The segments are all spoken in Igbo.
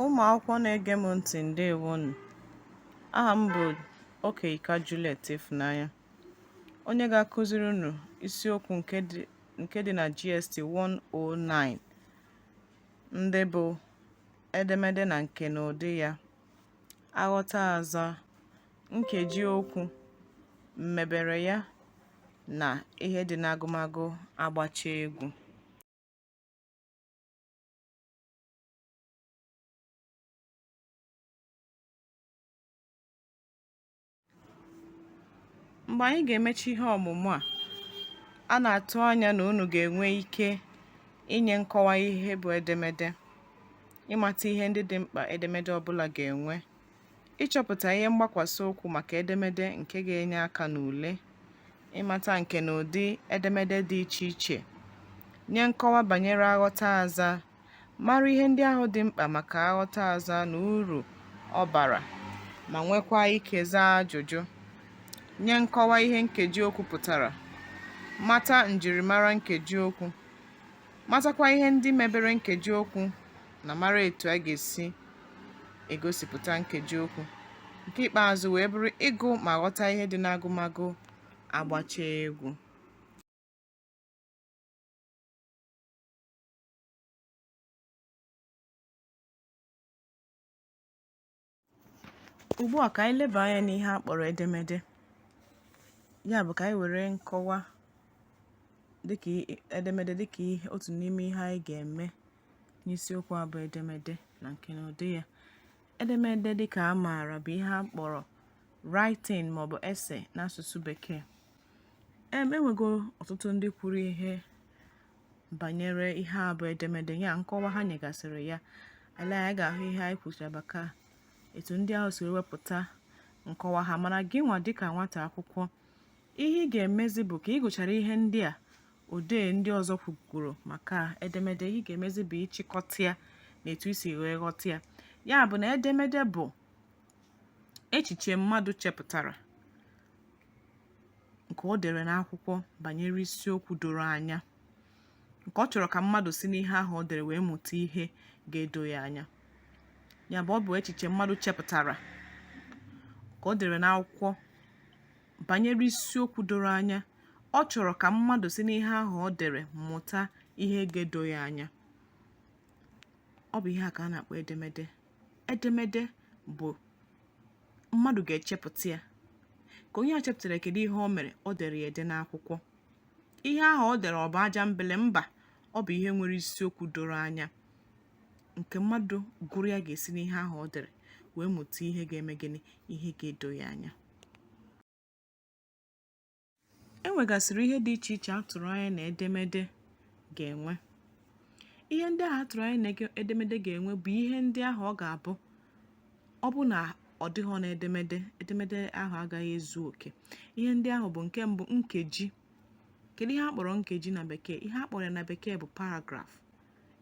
Ụmụ akwụkwọ na-ege m ntị ndewonu. Aha m bụ Okeyika Juliet Ifunanya, onye ga-akụziri unu isiokwu nke dị na GST 109 ndị bụ edemede na nkenụdị ya. aghọta azaa nkeji okwu mmebere ya na ihe dị n'agụmagụ agbacha egwu. mgbe anyị ga-emechi ihe ọmụmụ a a na-atụ anya na unu ga-enwe ike inye nkọwa ihe bụ edemede ịmata ihe ndị dị mkpa edemede ọbụla ga-enwe ịchọpụta ihe mgbakwasị ụkwụ maka edemede nke ga-enye aka n'ule ịmata nkenụdị edemede dị iche iche nye nkọwa banyere aghọta azaa mara ihe ndị ahụ dị mkpa maka aghọta azaa na uru ọ bara ma nwekwa ike zaa ajụjụ nye nkọwa ihe nkeji okwu pụtara mata njirimara nkeji okwu matakwa ihe ndị mebere nkeji okwu na mara etu a ga-esi egosipụta nkeji okwu nke ikpeazụ wee bụrụ ịgụ ma ghọta ihe dị n'agụmagụ agbacha egwu ugbu a ka anyị leba anya n'ihe a kpọrọ edemede ya bụ ka anyị were nkọwa edemede dịka otu n'ime ihe anyị ga-eme n'isiokwu a bụ edemede na nkenụdị ya edemede dịka a maara bụ ihe a kpọrọ writing maọbụ essay n'asụsụ bekee enwego ọtụtụ ndị kwuru ihe banyere ihe a bụ edemede ya nkọwa ha nyegasịrị ya anyị agaghị ekwu maka etu ndị ahụ si wepụta nkọwa ha mana gị nwa dịka nwata akwụkwọ ihe ị ga-emezi bụ ka ị gụchara ihe ndị a odee ndị ọzọ kwugoro maka edemede ihe ị ga-emezi bụ ịchịkọta ya n'etu i si wee ghọta ya ya bụ na edemede bụ echiche mmadụ chepụtara nke o dere n'akwụkwọ banyere isiokwu doro anya nke ọ chọrọ ka mmadụ si n'ihe ahụ o dere wee mụta ihe ga-edo ya anya ya bụ ọ bụ echiche mmadụ chepụtara nke o dere n'akwụkwọ banyere isiokwu doro anya ọ chọrọ ka mmadụ si n'ihe ahụ o dere mụta ihe ga-edo ya anya ọ bụ ihe a ka a na-akpọ edemede edemede bụ mmadụ ga-echepụta ya ka onye a chepụtara kedu ihe o mere o dere ya ede n'akwụkwọ ihe ahụ o dere ọ bụ aja mbele mba ọ bụ ihe nwere isiokwu doro anya nke mmadụ gụrụ ya ga-esi n'ihe ahụ o dere wee mụta ihe ga-eme gịnị ihe ga-edo ya anya e nwegasịrị ihe dị iche iche a tụrụ anya na edemede ga-enwe ihe ndị ahụ a tụrụ anya na edemede ga-enwe bụ ihe ndị ahụ ọ ga-abụ ọ bụ na ọ dịghị na edemede edemede ahụ agaghị ezu oke ihe ndị ahụ bụ nke mbụ nkeji kedu ihe a kpọrọ nkeji na bekee ihe a kpọrọ ya na bekee bụ paragraph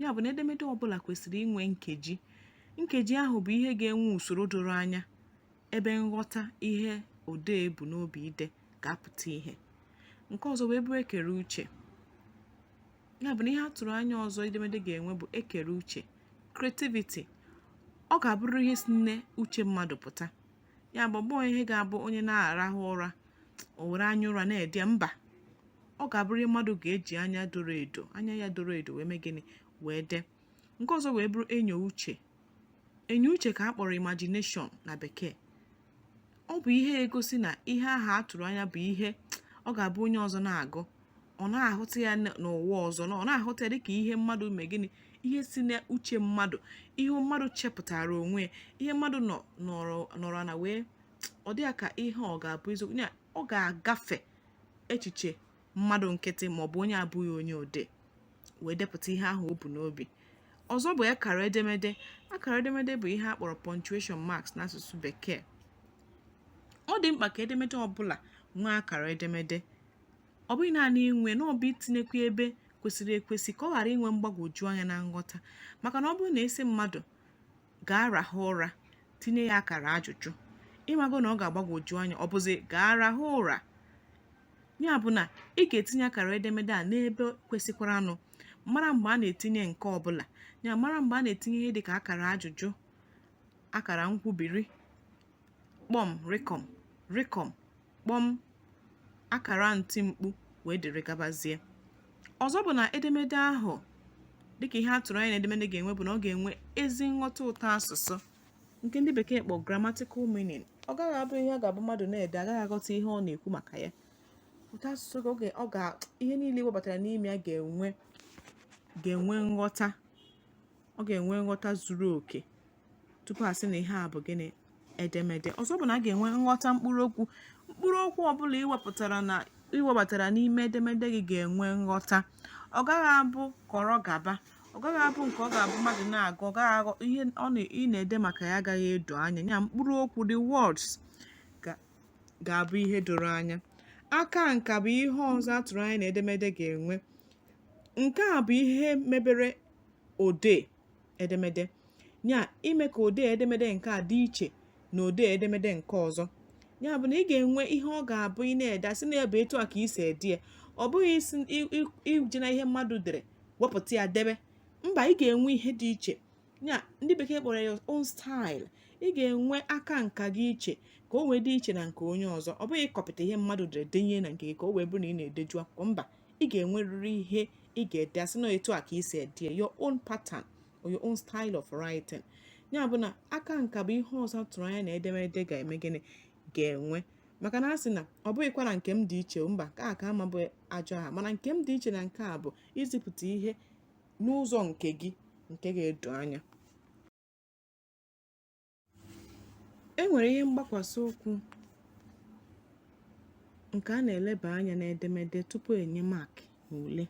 ya bụ na edemede ọbụla kwesịrị inwe nkeji nkeji ahụ bụ ihe ga-enwe usoro doro anya ebe nghọta ihe odee bu n'obi ide ga-apụta ihe nke ọzọ wee bụrụ ekere uche ya bụ na ihe a tụrụ anya ọzọ edemede ga-enwe bụ ekere uche creativity ọ ga-abụrụ ihe si n'uche mmadụ pụta ya bụ ọ bụghị ihe ga-abụ onye na-arahụ ụra o were anya ụra na-ede mba ọ ga-abụrụ ihe mmadụ ga-eji anya doro edo anya ya doro edo wee mee gịnị wee dee nke ọzọ wee bụrụ enyo uche enyo uche ka a kpọrọ imagination na bekee ọ bụ ihe egosi na ihe ahụ a tụrụ anya bụ ihe ọ ga-abụ onye ọzọ na-agụ ọ na-ahụta ya n'ụwa ọzọ na ọ na-ahụta ya dịka ihe mmadụ mee gịnị ihe si n'uche mmadụ ihe mmadụ chepụtara onwe ya ihe mmadụ nọrọ ana wee ọ dị ya ka ihe ọ ga-abụ eziokwu ọ ga-agafe echiche mmadụ nkịtị maọbụ onye abụghị onye odee wee depụta ihe ahụ o bu n'obi ọzọ bụ akara edemede akara edemede bụ ihe a kpọrọ punctuation marks n'asụsụ bekee ọ dị mkpa ka edemede ọbụla nwee akara edemede ọ bụghị naanị inwe na ọ bụ itinyekwa ebe kwesịrị ekwesị ka ọ ghara inwe mgbagwoju anya na nghọta maka na ọ bụrụ na a sị mmadụ gaa rahụ ụra tinye ya akara ajụjụ ị mago na ọ ga-agbagwoju anya ọ bụzi gaa rahụ ụra ya bụ na ị ga-etinye akara edemede a n'ebe kwesịkwaranụ mara mgbe a na-etinye nke ọbụla ya mara mgbe a na-etinye ihe dịka akara ajụjụ akara nkwubiri kpọm rịkọm rịkọm kpọm akara ntimkpu wee dịrị gabazie ọzọ bụ na edemede ahụ dịka ihe a tụrụ anya na edemede ga-enwe bụ na ọ ga-enwe ezi nghọta ụtọ asụsụ nke ndị bekee kpọ grammatical meaning ọ gaghị abụ ihe ọ ga-abụ mmadụ na-ede agaghị aghọta ihe ọ na-ekwu maka ya ụtọ asụsụ ihe niile e webatara n'ime ya ga-enwe nghọta ọ ga-enwe nghọta zuru oke tupu a sị na ihe a bụ gịnị edemede ọzọ bụ na a ga-enwe nghọta mkpụrụ okwu mkpụrụ okwu ọbụla i wepụtara na i webatara n'ime edemede gị ga-enwe nghọta ọ gaghị abụ kọrọ gaba ọ gaghị abụ nke ọ ga-abụ mmadụ na-agụ ọ gaghị aghọ ihe ọ ị na-ede maka ya agaghị edo anya ya mkpụrụ okwu the words ga-abụ ihe doro anya aka nka bụ ihe ọzọ a tụrụ anya na edemede ga-enwe nke a bụ ihe mebere odee edemede ya ime ka odee edemede nke a dị iche na odee edemede nke ọzọ ya bụ na ị ga-enwe ihe ọ ga-abụ ị na-ede a sị na ọ bụ etu a ka i si ede ya ọ bụghị isi ije na ihe mmadụ dere wepụta ya debe mba ị ga-enwe ihe dị iche ya ndị bekee kpọrọ your own style ị ga-enwe aka nka gị iche ka o wee dị iche na nke onye ọzọ ọ bụghị ịkọpịta ihe mmadụ dere denye na nke gị ka o wee bụrụ na ị na-edeju akwụkwọ mba ị ga-enwerịrị ihe ị ga-ede a sị na etu a ka i si ede your own pattern or your own style of writing ya bụ na aka nka bụ ihe ọzọ a tụrụ anya na edemede ga-eme gịnị ga-enwe maka na a sị na ọ bụghịkwa na nke m dị iche mba nke a ma bụ ajọ aha mana nke m dị iche na nke a bụ izipụta ihe n'ụzọ nke gị nke ga-edo anya e nwere ihe mgbakwasị ụkwụ nke a na-eleba anya n'edemede tupu e nye maakị n'ule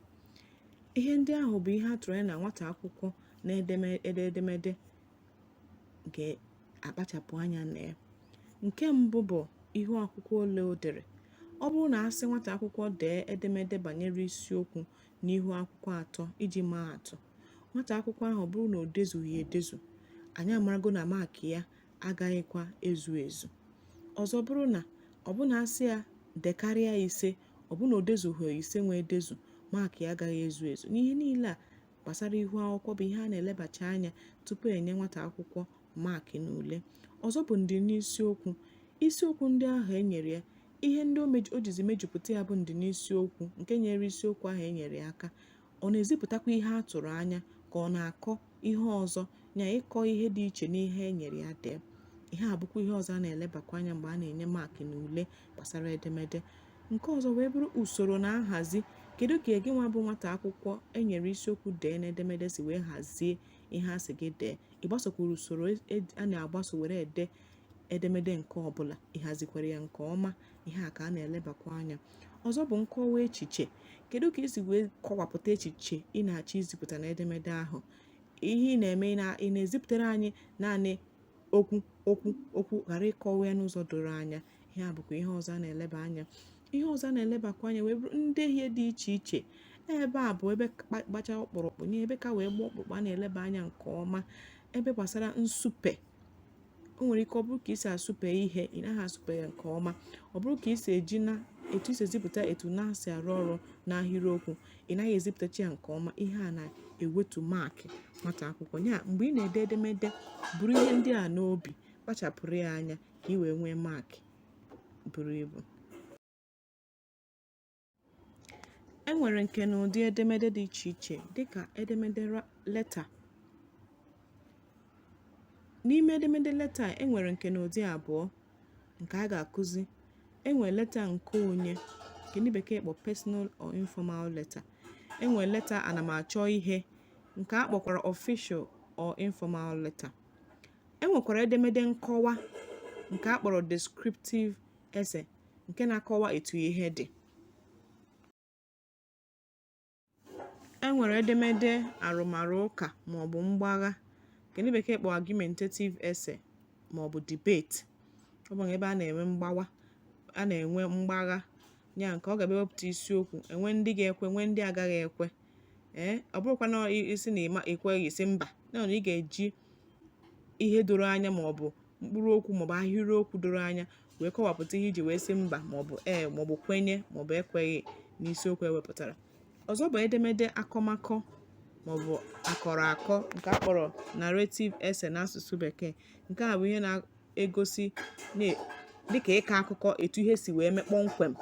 ihe ndị ahụ bụ ihe a tụrụ anya na nwata akwụkwọ na-ede edemede ga-akpachapụ anya na ya nke mbụ bụ ihu akwụkwọ ole o dere ọ bụrụ na a sị nwata akwụkwọ dee edemede banyere isiokwu n'ihu akwụkwọ atọ iji maa atụ nwata akwụkwọ ahụ bụrụ na o dezughị edezu anyị amarago na maakị ya agaghịkwa ezu ezu ọzọ bụrụ na ọ bụ na a sị ya dekarịa ise ọ bụ na o dezughị ise nwa edezu maakị ya agaghị ezu ezu ihe niile a gbasara ihu akwụkwọ bụ ihe a na-elebacha anya tupu e nye nwata akwụkwọ maakị n'ule ọzọ bụ ndị n'isiokwu isiokwu ndị ahụ e nyere ya ihe ndị o jizi mejupụta ya bụ ndị n'isiokwu nke nyere isiokwu ahụ e nyere ya aka ọ na-ezipụtakwa ihe a tụrụ anya ka ọ na-akọ ihe ọzọ na ịkọ ihe dị iche n'ihe e nyere ya dee ihe a bụkwa ihe ọzọ a na-elebakwa anya mgbe a na-enye maakị n'ule gbasara edemede nke ọzọ wee bụrụ usoro na nhazi kedu ka gị nwa bụ nwata akwụkwọ e nyere isiokwu dee n'edemede si wee hazie ihe a sị gị dee ị gbasokwuru usoro e, e, a na-agbaso were ede edemede nke ọbụla ị hazikwara ya nke ọma ihe a ka a na-elebakwa anya ọzọ bụ nkọwa echiche kedu ka i si wee kọwapụta echiche ị na-achọ izipụta n'edemede ahụ ihe ị na-eme ị na-ezipụtara anyị naanị okwu okwu okwu ghara ịkọwa ya n'ụzọ doro anya ihe a bụkwa ihe ọzọ a na-eleba anya ihe ọzọ a na-elebakwa anya wee bụrụ ndehie dị iche iche ebe a bụ ebe gbacha ọkpụrụkpụ nye ebe ka wee gbaa ọkpụrụkpụ a na-eleba anya nke ọma ebe gbasara nsupe o nwere ike ọ bụrụ ka i si asụpe ihe ị naghị asụpe ya nke ọma ọ bụrụ ka i si eji na etu i si ezipụta etu na si arụ ọrụ n'ahịrịokwu ị naghị ezipụtacha ya nke ọma ihe a na-ewetu maakị nwata akwụkwọ ya mgbe ị na-ede edemede buru ihe ndị a n'obi kpachapụrụ ya anya ka ị wee nwee maakị buru ibu e nwere nkenụdị edemede dị iche iche dịka edemede leta n'ime edemede leta e nwere nkenụdị abụọ nke a ga-akụzi e nwere leta nke onye nke ndị bekee kpọ personal or informal letter e nwere leta ana m achọ ihe nke a kpọkwara official or informal letter e nwekwara edemede nkọwa nke a kpọrọ descriptive essay nke na-akọwa etu ihe dị e nwere edemede arụmarụ ụka maọbụ mgbagha nke ndị bekee kpọ argumentative essay maọbụ debate ọ bụ ebe a na-enwe mgbawa a na-enwe mgbagha ya nke ọ ga-abụ e wepụta isiokwu e nwee ndị ga-ekwe nwee ndị agaghị ekwe ee eh, ọ bụrụkwa na ị sị na ị ma ekweghị ị sị mba na ị ga-eji ihe doro anya maọbụ mkpụrụ okwu maọbụ ahịrịokwu doro anya wee kọwapụta ihe i ji wee sị mba maọbụ ee maọbụ kwenye maọbụ ekweghị n'isiokwu e wepụtara ọzọ bụ edemede akọmakọ maọbụ akọrọ akọ nke a kpọrọ narrative essay n'asụsụ bekee nke a bụ ihe na-egosi dịka ịkọ akụkọ etu ihe si wee mee kpọmkwem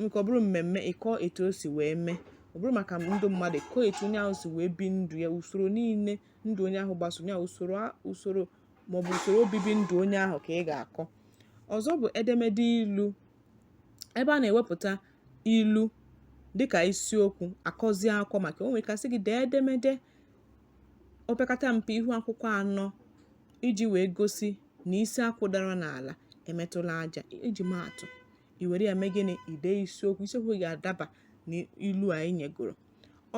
nke ọ bụrụ mmemme ịkọ etu o si wee mee ọ bụrụ maka ndụ mmadụ kọọ etu onye ahụ si wee bie ndụ ya usoro niile ndụ onye ahụ gbasoro ya usoro usoro maọbụ usoro obibi ndụ onye ahụ ka ị ga-akọ ọzọ bụ edemede ilu ebe a na-ewepụta ilu dịka isiokwu a kọzie akụkọ maka o nwere ike a sị gị dee edemede opekata mpe ihu akwụkwọ anọ iji wee gosi na isi akwụ dara n'ala emetụla aja iji maa atụ i were ya mee gịnị i dee isiokwu isiokwu ga-adaba n'ilu a anyị nyegoro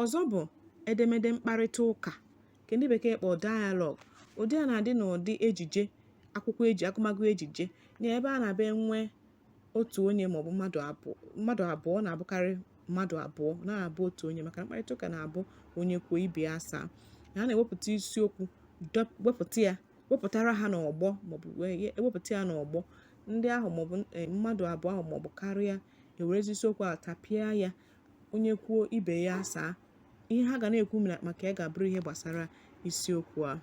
ọzọ bụ edemede mkparịta ụka nke ndị bekee kpọrọ dialogue ụdị a na-adị n'ụdị ejije akwụkwọ eji agụmagụ ejije na ebe a na-abịa enwe otu onye maọbụ mmadụ abụọ mmadụ abụọ na-abụkarị mmadụ abụọ na-abụ otu onye maka mkparịta ụka na-abụ onye kwuo ibe ya asaa na a na-ewepụta isiokwu wepụta ya wepụtara ha n'ọgbọ maọbụ ewepụta ya n'ọgbọ ndị ahụ maọbụ e, mmadụ abụọ ahụ maọbụ karịa ewerezi isiokwu a tapịa ya onye kwuo ibe ya asaa ihe ha ga na-ekwu maka ya ga-abụrụ ihe gbasara isiokwu a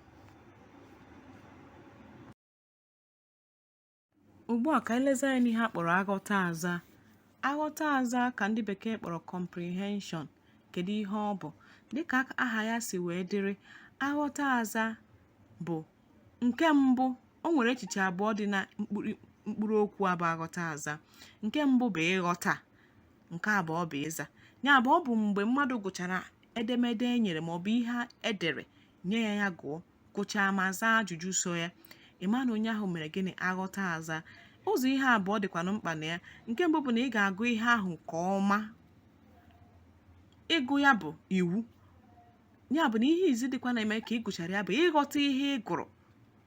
ugbu a ka anyị lezi anya n'ihe a kpọrọ aghọta aza aghọta aza ka ndị bekee kpọrọ comprehension kedu ihe ọ bụ dịka aha ya si wee dịrị aghọta aza bụ nke mbụ o nwere echiche abụọ dị na mkpụrụ okwu a bụ aghọta aza nke mbụ bụ ịghọta nke abụọ bụ ịza ya bụ ọ bụ mgbe mmadụ gụchara edemede e nyere ma ọ bụ ihe e dere nye ya ya gụọ gụchaa ma zaa ajụjụ so ya ị ma na onye ahụ mere gịnị aghọta aza ụzọ ihe abụọ dịkwanụ mkpa na ya nke mbụ bụ na ị ga-agụ ihe ahụ nke ọma ịgụ ya bụ iwu ya bụ na ihe izizi kwa na-eme ka ị gụchara ya bụ ịghọta ihe ị gụrụ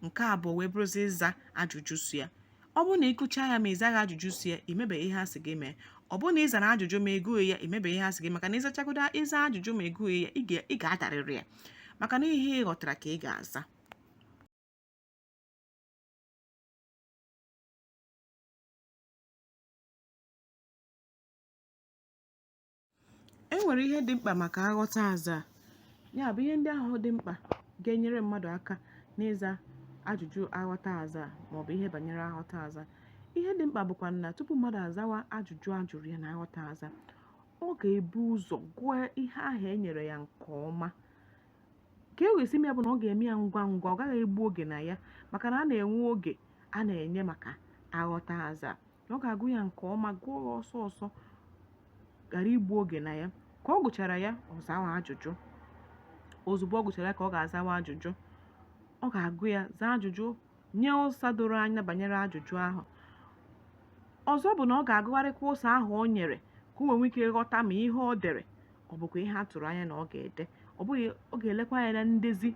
nke abụọ wee bụrụzi ịza ajụjụ so ya ọ bụrụ na ị gụchaa ya ma ị zaghị ajụjụ so ya i mebeghị ihe a sị gị mee ọ bụrụ na ị zara ajụjụ ma ị gụghị ya i mebeghị ihe a sị gị maka na ị zachagodo ịza ajụjụ ma ị gụghị ya ị ga-adarịrị ya maka na ihe ị ghọtara ka ị ga-aza e nwere ihe dị mkpa maka aghọta aza ya bụ ihe ndị ahụ dị mkpa ga-enyere mmadụ aka n'ịza ajụjụ aghọta aza maọbụ ihe banyere aghọta aza ihe dị mkpa bụkwa na tupu mmadụ azawa ajụjụ a jụrụ ya na aghọta aza ọ ga-ebu ụzọ gụọ ihe ahụ e nyere ya nke ọma ka e wee si mee ya bụ na ọ ga-eme ya ngwa ngwa ọ gaghị egbu oge na ya maka na a na-enwe oge a na-enye maka aghọta aza ọ ga-agụ ya nke ọma gụọ ya ọsọ ọsọ ghara igbu oge na ya ka ọ gụchara ya ọ zawa ajụjụ ozugbo ọ gụchara ya ka ọ ga-azawa ajụjụ ọ ga-agụ ya zaa ajụjụ nye ụsa doro anya banyere ajụjụ ahụ ọzọ bụ na ọ ga-agụgharịkwa ụsa ahụ o nyere ka o nwee ike ghọta ma ihe o dere ọ bụkwa ihe a tụrụ anya na ọ ga-ede ọ bụghị ọ ga-elekwa anya na ndezi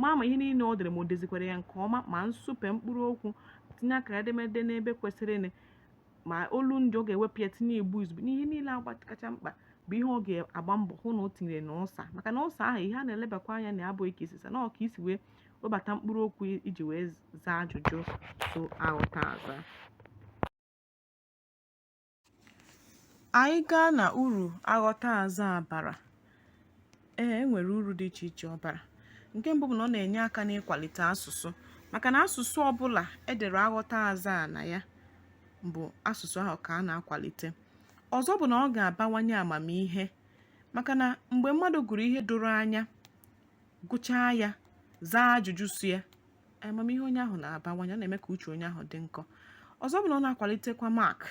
ma ma ihe niile o dere ma o dezikwara ya nke ọma ma nsupe mkpụrụ okwu tinye akara edemede n'ebe kwesịrị kwesịrịnụ ma olundị ọ ga-ewepụ ya tinye igbo izugbe n'ihe niile agba kacha mkpa bụ ihe ọ ga-agba mbọ hụ na o tinyere na ụsa maka na ụsa ahụ ihe a na-elebakwa anya na ya bụ ka i si saa na ka i si wee webata mkpụrụ okwu i ji wee zaa ajụjụ so aghọta aza Anyị gaa na uru aghọta azaa bara, ee e nwere uru dị iche iche ọ bara. Nke mbụ bụ na ọ na-enye aka n'ịkwalite asụsụ maka na asụsụ ọbụla edere aghọta azaa na ya bụ asụsụ ahụ ka a na-akwalite. Ọzọ bụ na ọ ga-abawanye amamihe maka na mgbe mmadụ gụrụ ihe doro anya, gụchaa ya, zaa ajụjụ so ya amamihe onye ahụ na-abawanye ọ na-eme ka uche onye ahụ dị nkọ ọzọ bụ na ọ na-akwalitekwa mark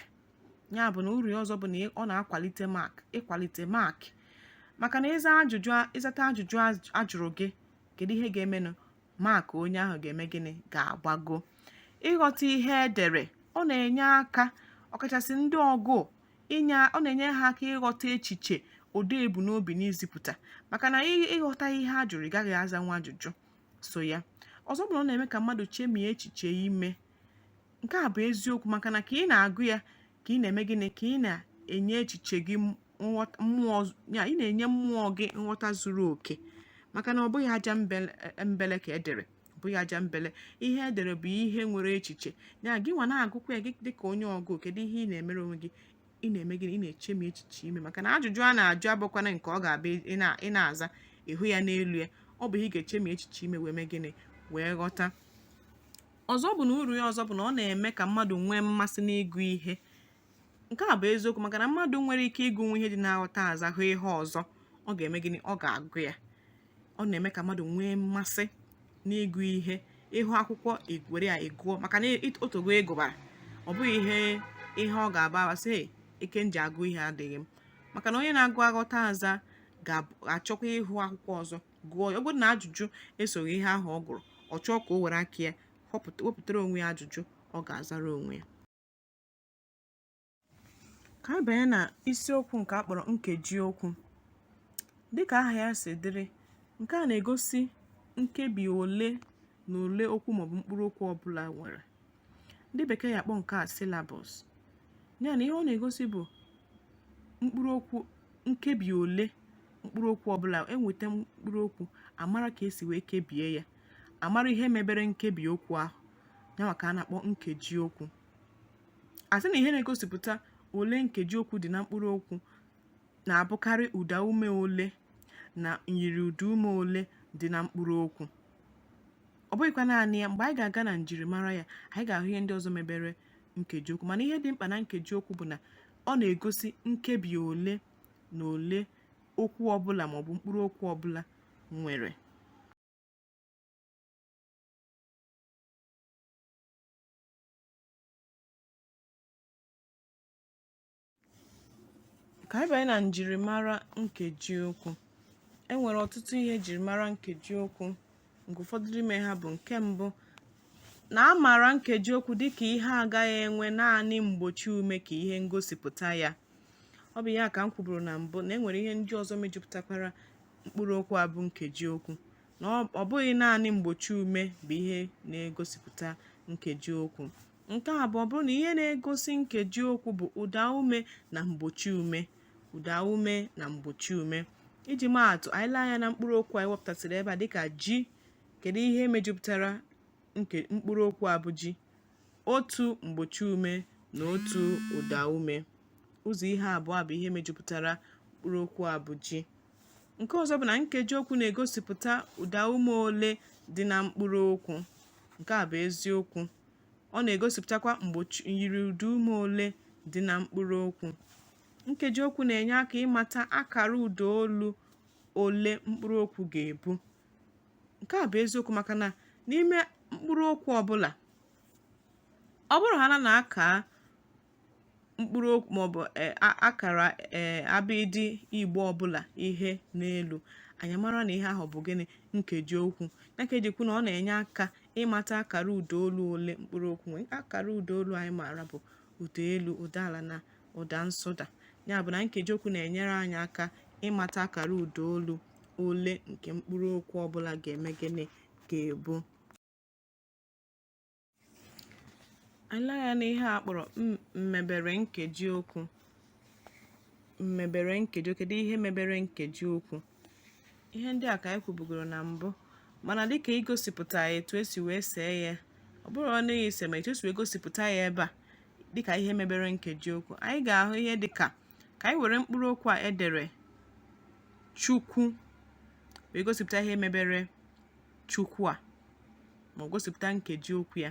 ya bụ na uru ya ọzọ bụ na ọ na-akwalite mark ịkwalite mark maka na ịza ajụjụ ị zata ajụjụ ajụrụ gị kedu ihe ga-emenụ mark onye ahụ ga-eme gịnị ga-agbago ịghọta ihe edere ọ na-enye aka ọkachasị ndị ọgụụ inye ọ na-enye ha aka ịghọta echiche odee bu n'obi n'izipụta maka na ị ghọta ihe a jụrụ ị ga-azanwu ajụjụ so ya ọzọ bụ na ọ na-eme ka mmadụ chemie echiche ime nke a bụ eziokwu maka na ka ị na-agụ ya ka ị na-eme gịnị ka ị na-enye echiche gị mmụọ ya ị na-enye mmụọ gị nghọta zuru oke maka na ọ bụghị ajambele ka edere ọ bụghị ajambele ihe edere bụ ihe nwere echiche ya gị nwa na-agụkwa ya gị dịka onye ọgụụ kedu ihe ị na-emere onwe gị ị na-eme gịnị ị na-echemi echiche ime maka na ajụjụ a na-ajụ abụkwana nke ọ ga-abụ ị na-aza ị hụ ya n'elu ya ọ bụ ihe ị ga-echemi echiche ime wee mee gịnị wee ghọta ọzọ bụ na uru ya ọzọ bụ na ọ na-eme ka mmadụ nwee mmasị n'ịgụ ihe nke a bụ eziokwu maka na mmadụ nwere ike ịgụnwu ihe dị n'aghọta azaa hụ ihe ọzọ ọ ga-eme gịnị ọ ga-agụ ya ọ na-eme ka mmadụ nwee mmasị n'ịgụ ihe ị hụ akwụkwọ were ya ị gụọ maka na o teego ị gụbara ọ bụghị ihe ihe ọ ga-abụ a bịa sị ike m ji agụ ihe adịghị m maka na onye na-agụ aghọta azaa ga-achọkwa ịhụ akwụkwọ ọzọ gụọ ya ọ bụrụ na ajụjụ esoghị ihe ahụ ọ gụrụ ọ chọọ ka o were aka ya wepụtara onwe ya ajụjụ ọ ga-azara onwe ya ka a banye na isiokwu nke a kpọrọ nkeji okwu dịka aha ya si dịrị nke a na-egosi nkebi ole na ole okwu maọbụ mkpụrụ okwu ọbụla nwere ndị bekee ya akpọ nke a syllables ya na ihe ọ na-egosi bụ mkpụrụ okwu nkebi ole mkpụrụ okwu ọbụla enweta mkpụrụ okwu amara ka esi wee kebie ya amara ihe mebere nkebi okwu ahụ ya nwa ka a na-akpọ nkeji okwu asị na ihe na-egosipụta ole nkeji okwu dị na mkpụrụ okwu na-abụkarị ụda ume ole na myiri ụda ume ole dị na mkpụrụ okwu ọ bụghịkwa naanị ya mgbe anyị ga-aga na njirimara ya anyị ga-ahụ ihe ndị ọzọ mebere nkeji okwu mana ihe dị mkpa na nkeji okwu bụ na ọ na-egosi nkebi ole na ole okwu ọbụla maọbụ mkpụrụ okwu ọbụla nwere ka anyị banye na njirimara nkeji okwu e nwere ọtụtụ ihe njirimara nkeji okwu nke ụfọdụ n'ime ha bụ nke mbụ na a maara nkeji okwu dịka ihe agaghị enwe naanị mgbochi ume ka ihe ngosipụta ya ọ bụ ya ka m kwuburu na mbụ na e nwere ihe ndị ọzọ mejupụtakwara mkpụrụ okwu a bụ nkeji okwu na ọ bụghị naanị mgbochi ume bụ ihe na-egosipụta nkeji okwu nke abụọ bụrụ na ihe na-egosi nkeji okwu bụ ụda ume na mgbochi ume ụda ume na mgbochi ume iji maatụ anyị lee anya na mkpụrụ okwu anyị wepụtasịrị ebe a dịka ji kedu ihe mejupụtara mkpụrụ okwu a bụ ji otu mgbochi ume na otu ụda ume ụzọ ihe abụọ bụ ihe mejupụtara mkpụrụ okwu a bụ ji nke ọzọ bụ na nkeji okwu na-egosipụta ụda ume ole dị na mkpụrụ okwu nke a bụ eziokwu ọ na-egosipụtakwa myiri ụda ume ole dị na mkpụrụ okwu nkeji okwu na-enye aka ịmata akara ụda olu ole mkpụrụ okwu ga-ebu nke a bụ eziokwu maka na n'ime mkpụrụ okwu ọbụla ọ bụrụ ha na a kaa mkpụrụ okwu maọbụ e, akara e, abịdị igbo ọbụla ihe n'elu anyị mara na ihe ahụ bụ gịnị nkeji okwu ya ka e ji kwuo na ọ na-enye aka ịmata akara ụda olu ole mkpụrụ okwu nwere akara ụda olu anyị maara bụ ụda elu ụda ala na ụda nsụda ya bụ na nkeji okwu na-enyere anyị aka ịmata akara ụda olu ole nke mkpụrụ okwu ọbụla ga-eme gịnị ga-ebu anyị lee anya n'ihe a kpọrọ mmebere nkeji okwu mmebere nkeji okwu kedu ihe mebere nkeji okwu ihe ndị a ka anyị kwubugoro na mbụ mana dịka igosipụta ya etu esi wee see ya ọ bụrụ ọnụ ya ise ma etu esi wee gosipụta ya ebe a dịka ihe mebere nkeji okwu anyị ga-ahụ ihe dịka ka anyị were mkpụrụ okwu a edere chukwu wee gosipụta ihe mebere chukwu a ma gosipụta nkeji okwu ya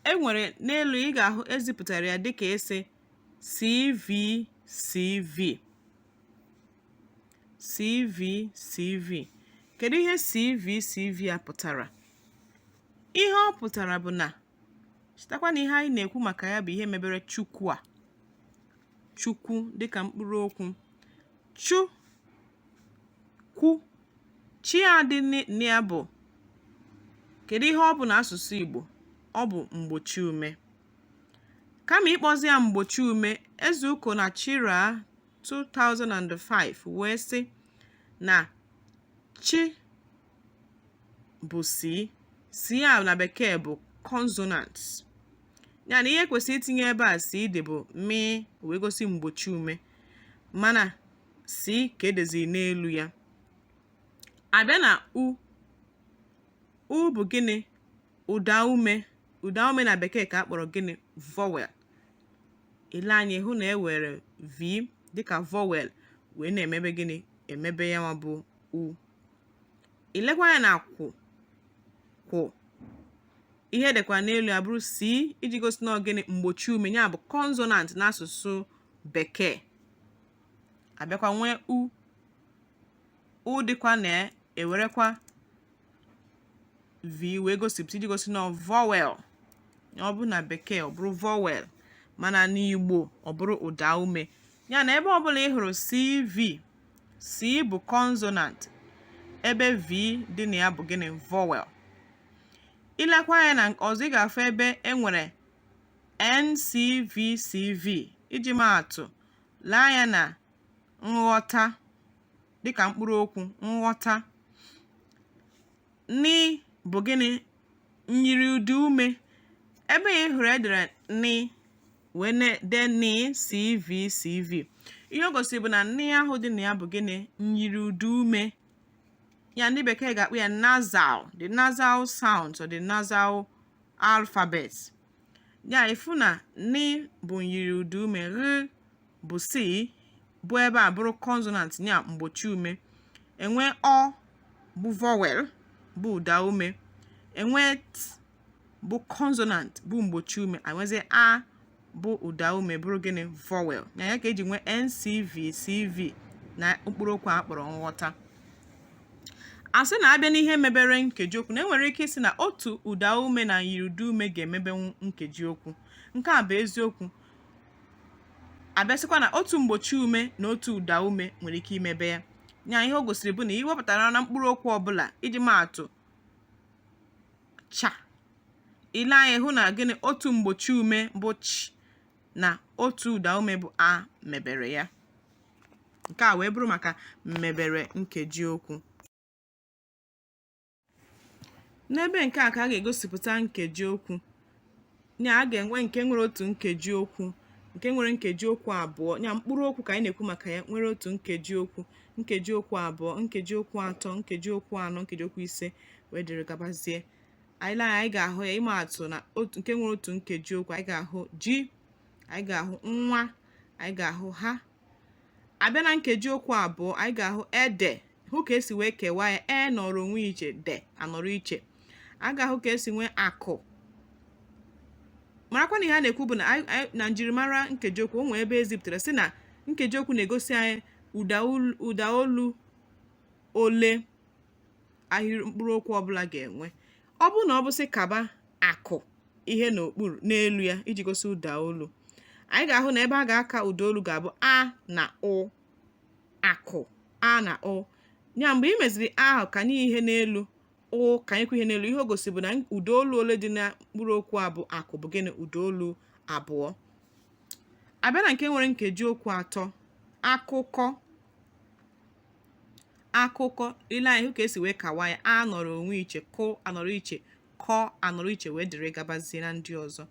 e nwere n'elu ị ga-ahụ ezipụtara ya dịka ese CV CV CV CV kedu ihe CV CV a pụtara ihe ọ pụtara bụ na chetakwa na ihe anyị na-ekwu maka ya bụ ihe mebere chukwu a chukwu dịka mkpụrụ okwu chu kwu chi a dị na ya bụ kedu ihe ọ bụ na asụsụ Igbo ọ bụ mgbochi ume kama ịkpọzi ya mgbochi ume Ezeuko na Chira 2005 wee sị na chi bụ C C a na bekee bụ consonant ya na ihe kwesịrị itinye ebe a C dị bụ mị wee gosi mgbochi ume mana C ka edeziri n'elu ya abịa na u u bụ gịnị ụda ume ụda ume na bekee ka a kpọrọ gịnị vowel ile anya hụ na e were v dịka vowel wee na-emebe gịnị emebe ya nwa bụ u ilekwa anya na kwụ kwụ ihe edekwa n'elu ya bụrụ C iji gosi na ọ gịnị mgbochi ume ya bụ consonant n'asụsụ bekee abịakwa nwee u u dịkwa na ewerekwa v wee gosipụta iji gosi na vowel ọ bụrụ na bekee ọ bụrụ vowel mana n'igbo ọ bụrụ ụda ume ya na ebe ọbụla ị hụrụ cv C bụ consonant ebe V dị na ya bụ gịnị vowel ilekwa anya na ọzọ ị ga-afụ ebe e nwere NCVCV iji maatụ lee anya na nghọta dịka mkpụrụ okwu nghọta ni bụ gịnị myiri ụda ume ebe ị hụrụ edere ni wee dee ni cv cv ihe o gosiri bụ na ni ahụ dị na ya bụ gịnị myiri ụda ume ya ndị bekee ga-akpọ ya nasal the nasal sound or the nasal alphabet ya ị fụ na ni bụ myiri ụda ume gh bụ C bụ ebe a bụrụ consonant ya mgbochi ume enwe ọ bụ vowel bụ ụda ume enwe t bụ consonant bụ mgbochi ume enwezie a bụ ụda ume bụrụ gịnị vowel nya ka eji nwee ncv cv na mkpụrụ okwu a kpọrọ nghọta asị na abịa n'ihe mebere nkeji okwu na enwere ike ịsị na otu ụda ume na myiri ụda ume ga-emebenwu nkeji okwu nke a bụ eziokwu abịasịkwa na otu mgbochi ume na otu ụda ume nwere ike imebe ya nya ihe o gosiri bụ na iwepụtara na mkpụrụ okwu ọbụla iji maatụ cha ile anya hụ na gịnị otu mgbochi ume bụ ch na otu ụda ume bụ a mebere ya nke a wee bụrụ maka mmebere nkeji okwu n'ebe nke a ka a ga-egosipụta nkeji okwu nya a ga-enwe nke nwere otu nkeji okwu nke nwere nkeji okwu abụọ nya mkpụrụ okwu ka anyị na-ekwu maka ya nwere otu nkeji okwu nkeji okwu abụọ nkeji okwu atọ nkeji okwu anọ nkeji okwu ise wee dịrị gabazie anyị lee anyị ga-ahụ ya ịma atụ na nke nwere otu nkeji okwu anyị ga-ahụ ji anyị ga-ahụ nwa anyị ga-ahụ ha a bịa na nkeji okwu abụọ anyị ga-ahụ ede hụ ka e si wee kewaa ya e nọrọ onwe iche de anọrọ iche a ga-ahụ ka e si nwee akụ marakwa na ihe a na-ekwu bụ na na njirimara nkeji okwu o nwe ebe e zipụtara sị na nkeji okwu na-egosi anyị ụda olu ole ahịrị mkpụrụ okwu ọbụla ga-enwe ọ bụrụ na ọ bụ sị kaba akụ ihe n'okpuru n'elu ya iji gosi ụda olu anyị ga-ahụ na ebe a ga-aka ụda olu ga-abụ a na ụ akụ a na ụ ya mgbe i meziri ahụ kanye ihe n'elu o kanyekwa ihe n'elu ihe o gosi bụ na ụda olu ole dị na mkpụrụ okwu a bụ akụ bụ gịnị ụda olu abụọ a bịa na nke nwere nkeji okwu atọ akụkọ akụkọ i lee anya hụ ka e si wee kewaa ya a nọrọ onwe iche kụ anọrọ iche kọ anọrọ iche wee dịrị gabazie na ndị ọzọ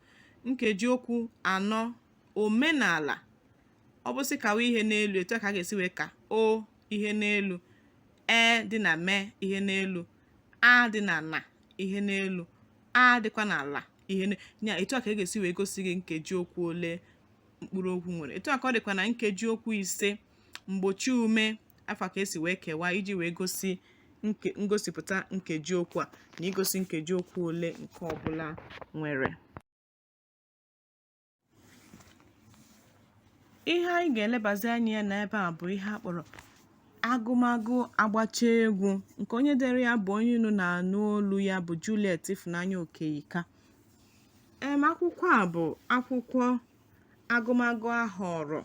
nkeji okwu anọ omenala ọ bụ sị kawa ihe n'elu etu a ka a ga-esi wee ka o ihe n'elu e dị na me ihe n'elu a dị na na ihe n'elu a dịkwa na la ihe ya etu a ka a ga-esi wee gosi gị nkeji okwu ole mkpụrụ okwu nwere etu a ka ọ dịkwa na nkeji okwu ise mgbochi ume afa ka e si wee kewaa iji wee gosi ngosipụta nkeji okwu a na igosi nkeji okwu ole nke ọbụla nwere ihe anyị ga-elebazi anya ya n'ebe a bụ ihe a kpọrọ agụmagụ agbacha egwu nke onye dere ya bụ onye unu na-anụ olu ya bụ Juliet Ifunanya Okeyika em akwụkwọ a bụ akwụkwọ agụmagụ a họọrọ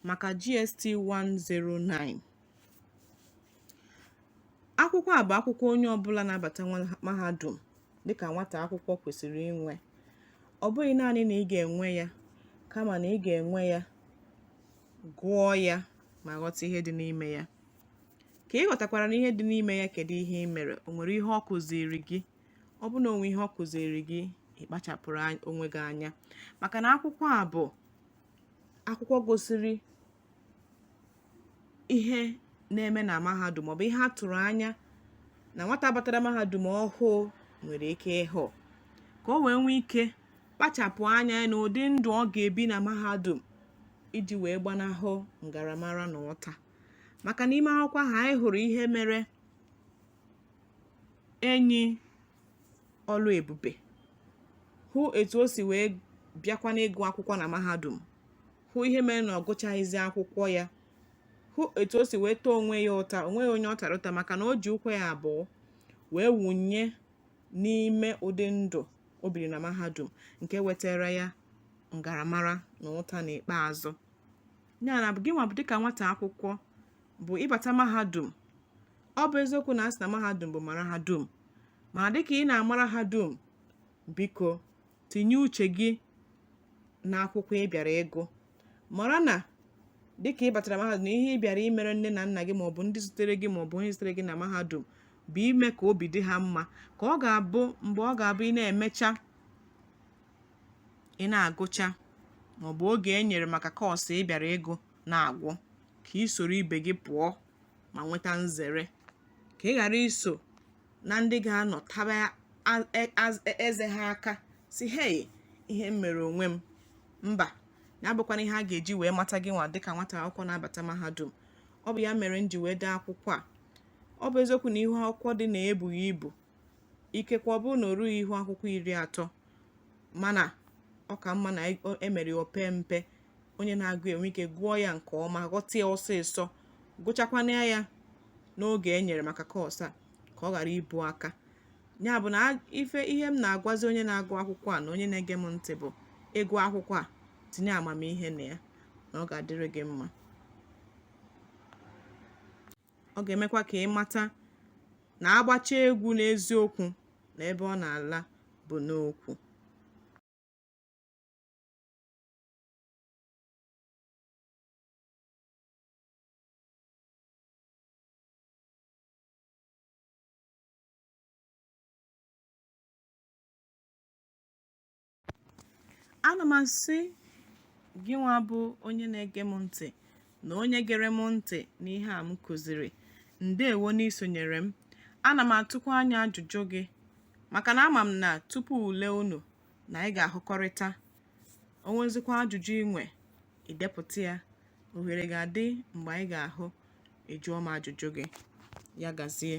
maka GST 109. Akwụkwọ a bụ akwụkwọ onye ọbụla na-abata mahadum dịka nwata akwụkwọ kwesịrị inwe. Ọ bụghị naanị na ị ga-enwe ya kama na ị ga-enwe ya, gụọ ya ma ghọta ihe dị n'ime ya. Ka ị ghọtakwara na ihe dị n'ime ya kedu ihe i mere, o nwere ihe ọ kụziiri gị? Ọ bụ na o nwe ihe ọ kụziiri gị, ị kpachapụrụ onwe gị anya maka na akwụkwọ a bụ akwụkwọ gosiri ihe na-eme na mahadum maọbụ ihe a tụrụ anya na nwata batara mahadum ọhụụ nwere ike ịhụ ka o wee nwee ike kpachapụ anya na ụdị ndụ ọ ga-ebi na mahadum iji wee gbanahụ ngaramara na ụta maka n'ime akwụkwọ ahụ anyị hụrụ ihe mere enyi Oluebube hụ etu o si wee bịakwa n'ịgụ akwụkwọ na mahadum hụ ihe mere na ọ gụchaghịzi akwụkwọ ya hụ etu o si wee taa onwe ya ụta o nweghị onye ọ tara ụta maka na o ji ụkwụ ya abụọ wee wụnye n'ime ụdị ndụ o biri na mahadum nke wetara ya ngaramara na ụta n'ikpeazụ ya na gị nwa bụ dịka nwata akwụkwọ bụ ịbata mahadum ọ bụ eziokwu na a sị na mahadum bụ mara ha dum mana dịka ị na-amara ha dum biko tinye uche gị na akwụkwọ ị bịara ịgụ mara na dịka ị batara mahadum ihe ị bịara imere nne na nna gị maọbụ ndị zitere gị maọbụ onye zitere gị na mahadum bụ ime ka obi dị ha mma ka ọ ga-abụ mgbe ọ ga-abụ ị na-emecha ị na-agụcha maọbụ oge e nyere maka kọọsụ ị bịara ịgụ na-agwụ ka ị soro ibe gị pụọ ma nweta nzere ka ị ghara iso na ndị ga-anọ taba eze ha aka sị hei ihe m mere onwe m mba na abụkwana ihe a ga-eji wee mata gị nwa dịka nwata akwụkwọ na-abata mahadum ọ bụ ya mere m ji wee dee akwụkwọ a ọ bụ eziokwu na ihu akwụkwọ dị na ya ebughị ibu ikekwe ọ bụrụ na o rughị ihu akwụkwọ iri atọ mana ọ ka mma na e mere ya o pee mpe onye na-agụ enwe ike gụọ ya nke ọma ghọta ya ọsịsọ gụchakwana ya n'oge e nyere maka kọọsụ a ka ọ ghara ibu aka ya bụ na ihe m na-agwazi onye na-agụ akwụkwọ a na onye na-ege m ntị bụ ị gụọ akwụkwọ a tinye amamihe na ya na ọ ga-adịrị gị mma ọ ga-emekwa ka ị mata na agbachaa egwu n'eziokwu na ebe ọ na-ala bụ n'ukwu ana m asị gị nwa bụ onye na-ege m ntị na onye gere m ntị n'ihe a m kụziri ndewo n'isonyere m ana m atụkwa anya ajụjụ gị maka na ama m na tupu ule unu na anyị ga-ahụkọrịta o nwezikwa ajụjụ i nwe i depụta ya ohere ga-adị mgbe anyị ga-ahụ ị jụọ m ajụjụ gị ya gazie